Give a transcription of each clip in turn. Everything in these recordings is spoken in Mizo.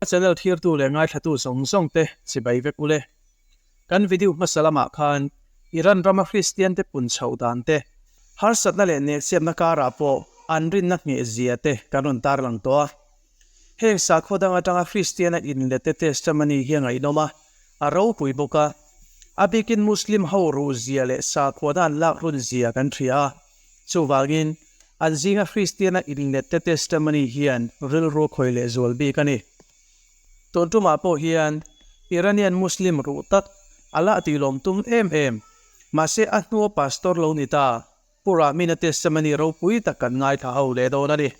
Ka channel thirtu leh ngaithlatu zawng zawng te chibai vek ule. Kan video hmasa lamah khan Iran rama Kristian te pun chhoh dan te, harsatna leh nelchhiatna karah pawh an rinna nghehzia te kan rawn tarlang tawh a. Heng sakhaw dang atanga Kristiana inlete Testamani hi a ngaihnawm a, a ropui bawk a. A bikin Muslim ho ruhzia leh sakhuana an lak runzia kan hria a. Chuvangin, an zinga Kristiana inlete Testamani hian rilru khawih leh zual bik a ni. Tun tumah pawh hian Iranian Muslim ruh tak a lah tih lawm tum em em. Mahse, a hnua pastor lo ni ta. Puramina testimony ropui tak kan ngaithla ho leh dawn a ni.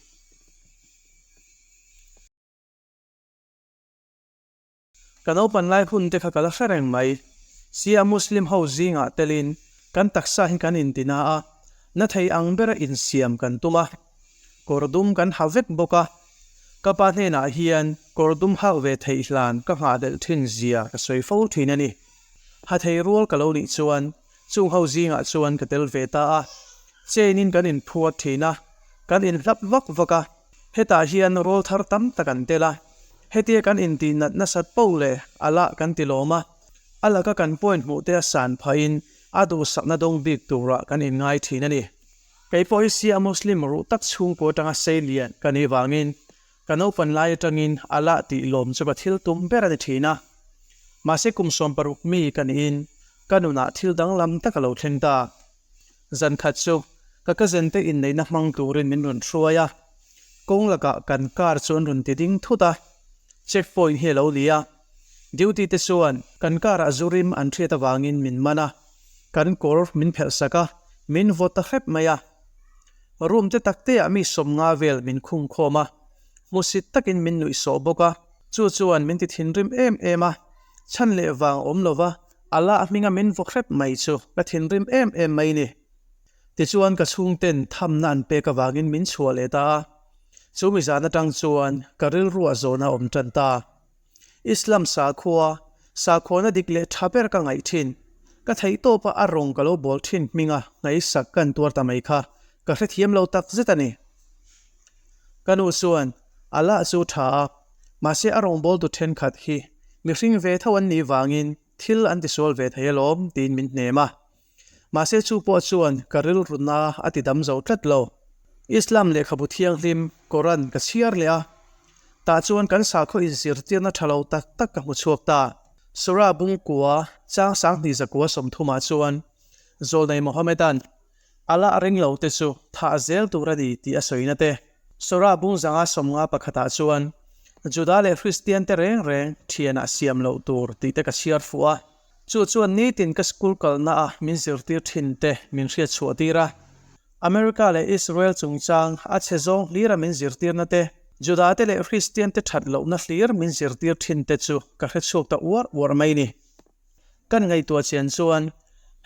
Ka naupan lai hun te kha ka la hre reng mai. Shia Muslim ho zingah telin kan taksa hi kan inti na a, na thei ang bera insiam kan tum a. Kawr dum kan ha vek bawk a. Ka pa hnenah hian kawr dum hak ve theih hlan ka nghah delh thin zia ka sawi fo thin a ni. Ha thei rual ka lo nih chuan Chung ho zingah chuan ka tel ve ta a, chain in kan inphuar thin a, kan inhlap vak vak a, hetah hian rawl thar tam tak an tel a, hetia kan intih nat nasat pauh leh a la kan ti lawm a, a laka kan point hmuh te a san phah in a duhsakna dawng bik turah kan in ngai thin a ni. Kei pawh hi Shia Muslim ruh tak chhungkua tanga sei lian ka nih vangin Ka naupan lai atangin a lah tih lawm chu ka thil tum ber a ni thin a. Mahse kum sawm paruk mi ka niin ka nunah thil danglam tak a lo thleng ta. Zan khat chu ka cousin te inneihna hmang turin min rawn hruai a. Kawng lakah kan car chu an rawn ti ding thut a. Checkpoint hi a lo ni a. Duty te chuan kan karah zu rim an hriat avangin min man a, kan kawr min phelh sak a, min vawt ta hrep mai a. Room te takteah mi sawm nga vel min khung khawm a, hmusit takin min nuih sawh bawk a, chu chuan min ti thinrim em em a, chhan leh vang awm lova a la a hminga min vaw hrep mai chu ka thinrim em em mai ni. Tichuan ka chhungten thamna an pek avangin min chhuah leh ta a, chu mizan atang chuan ka rilru a zawn a awm tan ta. Islam sakhua, sakhuana dik leh tha ber ka ngaih thin. Ka theihtawp a a rawng ka lo bawl thin hming a, ngaihsak kan tuar ta mai kha ka hrethiam lo tak zet a ni. Ka nu chuan a lah chu tha a, mahse a rawng bawl tu thenkhat hi mihring ve tho an nih vangin thil an tisual ve thei alawm tiin min hnem a. Mahse chu pawh chuan ka rilrun a a tidam zo tlat lo. Islam lehkhabu thianghlim Koran ka chhiar leh a, tah chuan kan sakhaw in zirtirna tha lo tak tak ka hmu chhuak ta. Surah bung kua chang sang hnih zakua sawmthum ah chuan Zawlnei Mohammedan, Allah a ring lo te chu thah zel tur a ni tih a sawi na te. Surah bung zanga sawmnga pakhat ah chuan Juda leh Hristian te reng reng thian ah siam loh tur tih te ka chhiar fuh a. Chu chuan nitin ka school kalna a min zirtir thin te min hriatchhuah tir a, America leh Israel chungchang a chhe zawng hlir a min zirtirna te, Juda te leh Hristian te that lohna hlir min zirtir thin te chu ka hre chhuak ta uar uar mai ni. Kan ngaihtuah chian chuan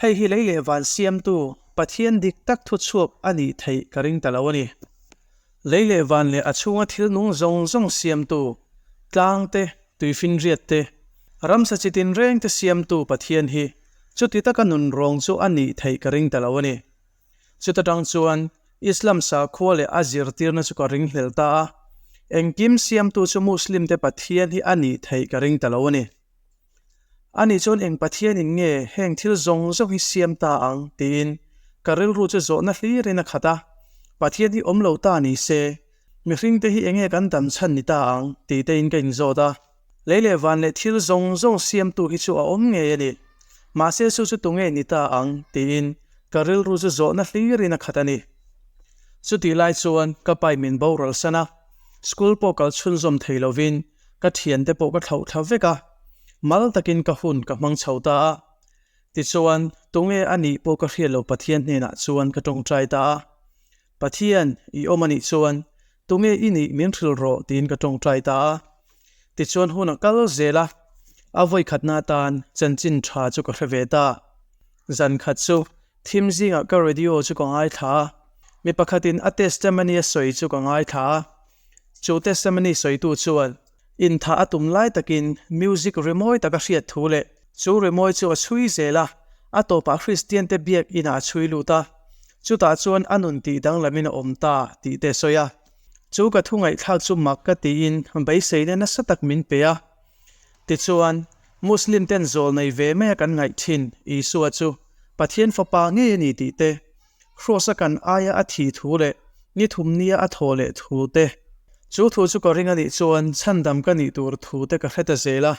hei hi lei leh van siamtu Pathian dik tak thuchhuak a nih theih ka ring ta lo a ni. Lei leh van leh a chhunga thil nung zawng zawng siamtu, tlangte, tuifinriatte, ramsa chi tinrengte siamtu Pathian hi chuti taka nun rawng chu a nih theih ka ring ta lo a ni. Chuta tang chuan Islam sakhua leh a zirtirna chu ka ring hlel ta a, engkim siamtu chu Muslimte Pathian hi a nih theih ka ring ta lo a ni. A nih chuan eng Pathianin nge heng thil zawng zawng hi siam ta ang? tiin ka rilru chu zawhna hlirin a khat a. Pathian hi awm lo ta ni se, mihring te hi eng nge kan dan chhan ni ta ang? ti tein ka inzawt a. Lei leh van leh thil zawng zawng siamtu hi chu a awm ngei a ni, mahse chu chu tu ngei ni ta ang? tiin ka rilru chu zawhna hlirin a khat a ni. Chutih lai chuan ka pai min boral san a, school pawh kal chhunzawm thei lovin ka thian te pawh ka thlauh thla vek a, mal takin ka hun ka hmang chho ta a. Tichuan, tunge a nih pawh ka hriat lo Pathian hnenah chuan ka tawngtai ta a. Pathian, i awm a nih chuan, tunge i nih min hril rawh tiin ka tawngtai ta a. Tichuan hun a kal zel a, a vawikhatna atan chanchin tha chu ka hre ve ta. Zan khat chu, thim zingah ka radio chu ka ngaithla a, mi pakhatin a testimony a sawi chu ka ngaithla a. Chu testimony sawitu chuan inthah a tum lai takin music rimawi taka hriat thu leh chu rimawi chu a chhui zel a, a tawpah Kristiante biakina a chhui lut a, chutah chuan a nun tih danglamin a awm ta tih te a sawi a. Chu ka thu ngaihthlak chu mak ka tiin beiseina nasa tak min pe a. Tichuan, Muslim ten zawl nei ve maia kan ngaih thin, Isua chu Pathian Fapa ngei a ni tih te, Khrus-a kan aia a thih thu leh ni thum nia a thaw leh thu te, chu thu chu ka ring a nih chuan chhandam ka nih tur thu te ka hre ta zel a.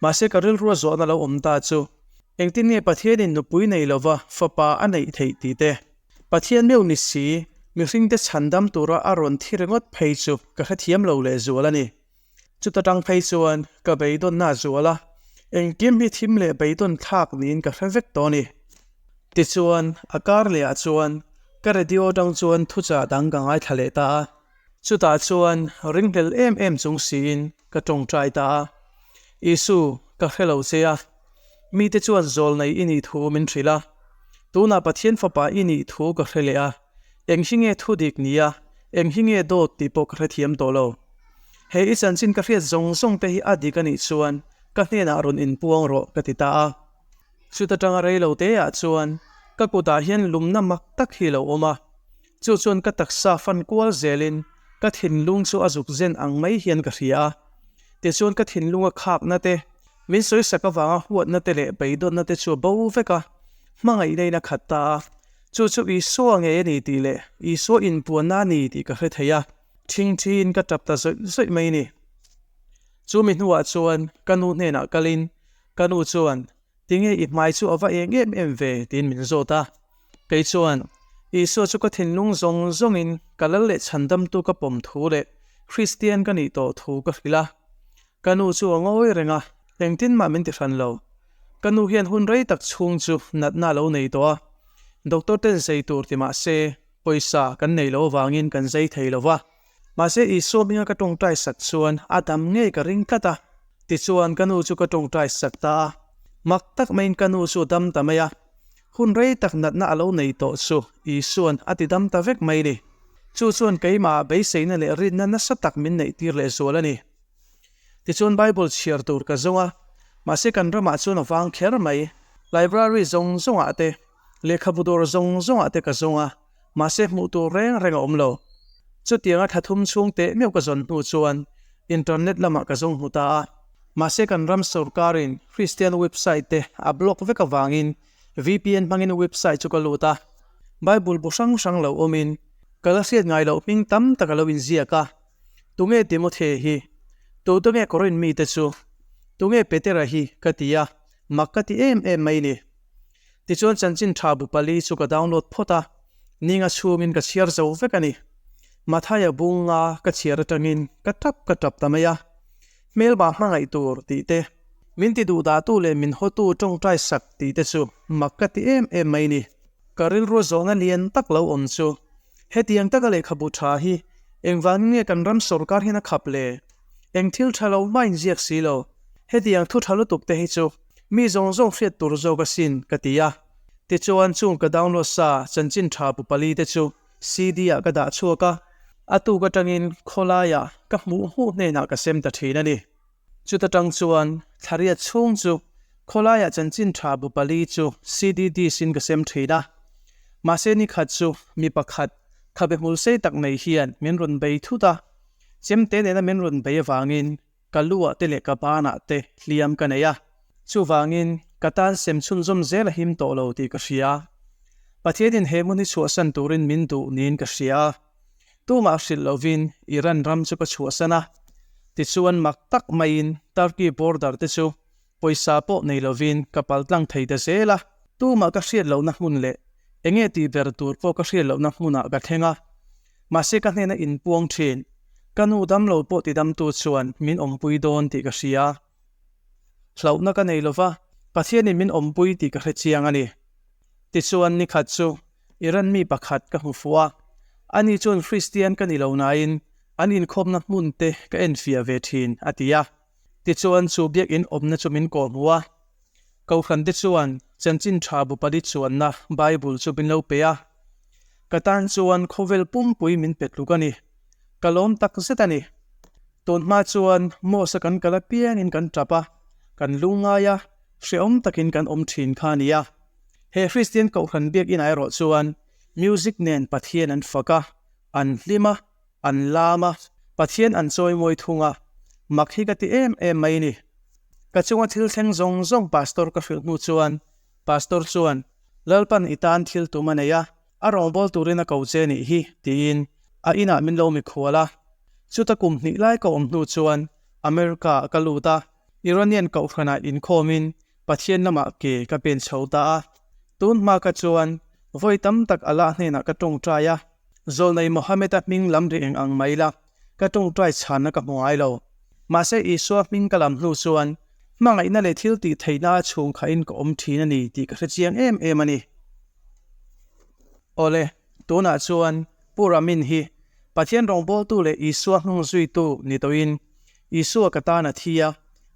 Mahse ka rilru a zawhna lo awm ta chu, engtin nge Pathianin nupui nei lova fapa a neih theih tih te, Pathian meu ni si, mihring te chhandam tura a rawn thi ringawt phei chu ka hrethiam lo leh zual a ni. Chuta tang phei chuan ka beidawnna zual a, engkim hi thim leh beidawn thlak niin ka hre vek tawh ni. Tichuan, a kar leh ah chuan ka radio atang chuan thuchah dang ka ngaithla leh ta a, chutah chuan ringhlel em em chung siin ka tawngtai ta a, Isu, ka hre lo che a. Mite chuan zawl nei i nih thu min hrilh a, tunah Pathian Fapa i nih thu ka hre leh a, eng hi nge thu dik ni a, eng hi nge dawt tih pawh ka hrethiam tawh lo. He i chanchin ka hriat zawng zawng te hi a dik a nih chuan ka hnenah rawn in puang rawh ka ti ta a. Chuta tanga rei lo te ah chuan ka kutah hian lumna mak tak hi lo awm a, Chu chuan ka taksa fan kual zelin ka thinlung chu a zuk zen ang mai hian ka hria a, tichuan ka thinlunga khakna te, min sawisak avanga huatna te leh beidawtna te chu bo veka hmangaihna in a khat ta a, chu chu Isua ngei a ni tih leh Isua inpuanna a ni tih ka hre thei a, thing thin ka tap ta zawih zawih mai a ni. Chumi hnuah chuan ka nu hnenah kalin ka nu chuan Tinge i hmai chu a va êng em em ve? tiin min zawt a, kei chuan Isua chu ka thinlung zawng zawngin ka lal leh chhandamtu ka pawm thu leh Kristian ka nih tawh thu ka hrilh a. Ka nu chu a ngawi reng a, engtin mah min ti hran lo. Ka nu hian hun rei tak chhung chu natna a lo nei tawh a, doctor ten zei tur ti mah se pawisa kan nei lo avangin kan zei thei lo va. Mahse, Isua hminga ka tawngtai sak chuan a dam ngei ka ring tlat a. Tichuan, ka nu chu ka tawngtai sak ta a. Mak tak maiin ka nu chu a dam ta mai a. Hun rei tak natna a lo nei tawh chu Isua'n a ti dam ta vek mai ni. Chu chuan keimah beiseina leh rinna nasa tak min neih tir leh zual a ni. Tichuan, Bible chhiar tur ka zung a, mahse kan ramah chuan a vang kher mai. Library zawng zawngah te, lehkhabu dawr zawng zawngah te ka zung a. mahse hmuh tur reng reng a awm lo. Chutianga tha thum chhung teh meuh ka zawn hnu chuan internet lamah ka zawng hmu ta a, mahse kan ram sorkarin Kristian website te a block vek avangin VPN hmangin website chu ka lut a, Bible bu hrang hrang lo awmin ka la hriat ngai loh hming tam tak a lo inziak a, Tunge Timothy hi? Tuta nge Corinth mite chu? Tunge Petera hi? ka ti a, mak ka ti em em mai ni. Tichuan chanchin tha bu pali chu ka download phawt a, ning a chhungin ka chhiar zo vek a ni. Mathai a bung a ka chhiar atangin ka tap ka tap ta mai a. Hmelbah hmangaih tur tih te, min ti duh dahtu leh min hawtu tawngtai sak tih te chu mak ka ti em em mai ni. Ka rilru zawhna lian tak lo awm chu hetiang taka lehkhabu tha hi engvangin nge kan ram sorkar hian a khap le? Eng thil tha lo main ziak si lo, hetiang thu tha lutuk te hi chu Mi zawng zawng hriat tur zawk a sin ka ti a. Tichuan chung ka download sa chanchin tha bu pali te chu CD ah ka dah chhuak a, a tuk atangin khawlaia ka hmuh hmuh hnenah ka sem ta thin a ni. Chuta tang chuan thlariat chhung chu khawlaia chanchin tha bu pali chu CD disc in ka sem thin a. Mahse nikhat chu mi pakhat khabe hmul sei tak neih hian min rawn bei thut a. Chem te nena min rawn bei avangin Ka lu ah te leh ka ban ah te hliam ka nei a, chuvangin ka tan sem chhun zawm zel a him tawh lo tih ka hria. Pathianin he hmun hi chhuahsan turin min duh niin ka hria a, tumah hrilh lovin Iran ram chu ka chhuahsan a. Tichuan mak tak maiin Turkey border te chu pawisa pawh nei lovin ka paltlang thei ta zel a, tumah ka hriat lohna hmun leh eng nge tih ber tur pawh ka hriat lohna hmunah ka thleng a, mahse ka hnen a inpuang thin, ka nu damlo pawh tidamtu chuan min awmpui dawn tih ka hria, hlauhna ka nei lova, Pathianin min awmpui tih ka hre chiang a ni. Tichuan nikhat chu Iran mi pakhat ka hmu fuh a, ani chuan Hristian ka ni lo nain an inkhawmna hmunte ka enfiah ve thin a ti a. Tichuan, chu biakinn awmna chu min kawh hmu a. Kohrante chuan chanchin tha bupa di chuanna Bible chu min lo pe a. Ka tan chuan khawvel pumpui min pe tluk a ni. Ka lawm tak zet a ni. Tun hma chuan Mosa kan kal apiangin kan tap a, kan lu ngai a, hreawm takin kan awm thin kha a ni a. He Kristian kohhran biakinn ah erawh chuan music nen Pathian an fak a, an hlim a. An lam a, Pathian an chawimawi thung a, mak hi ka ti em em mai ni. Ka chunga thil thleng zawng zawng Pastor ka hrilh hnu chuan Pastor chuan, Lalpan i tan thil tum a nei a, a rawngbâwl turin a ko che nih hi, tiin a inah min lo mikhual a. Chuta kum hnih lai ka awm hnu chuan America-ah ka lut a, Iranian Kohhranah inkhawmin Pathian lamah ke ka pen chho ta a, tun hma kha chuan vawi tam tak Allah hnenah ka tawngtai a, Zawlnei Mohammed-a hming lam ri eng ang mai la, ka tawngtai chhanna ka hmu ngai lo. Mahse, Isua hming ka lam hnu chuan hmangaihna leh thil tih theihna a chhung khahin ka awm thin a ni tih ka hrechiang em em a ni. Awle, tunah chuan Pu Ramin hi Pathian rawngbawltu leh Isua hnung zuitu ni tawhin Isua ka tan a thi a,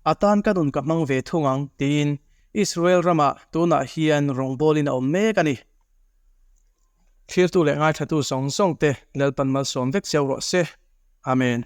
a tan ka nun ka hmang ve thung ang, tiin Israel ramah tunah hian rawngbawlin a awm mek a ni. Thirtu leh ngaithatu zawng zawngte Lalpan malsawm vek cio rawh se. Amen.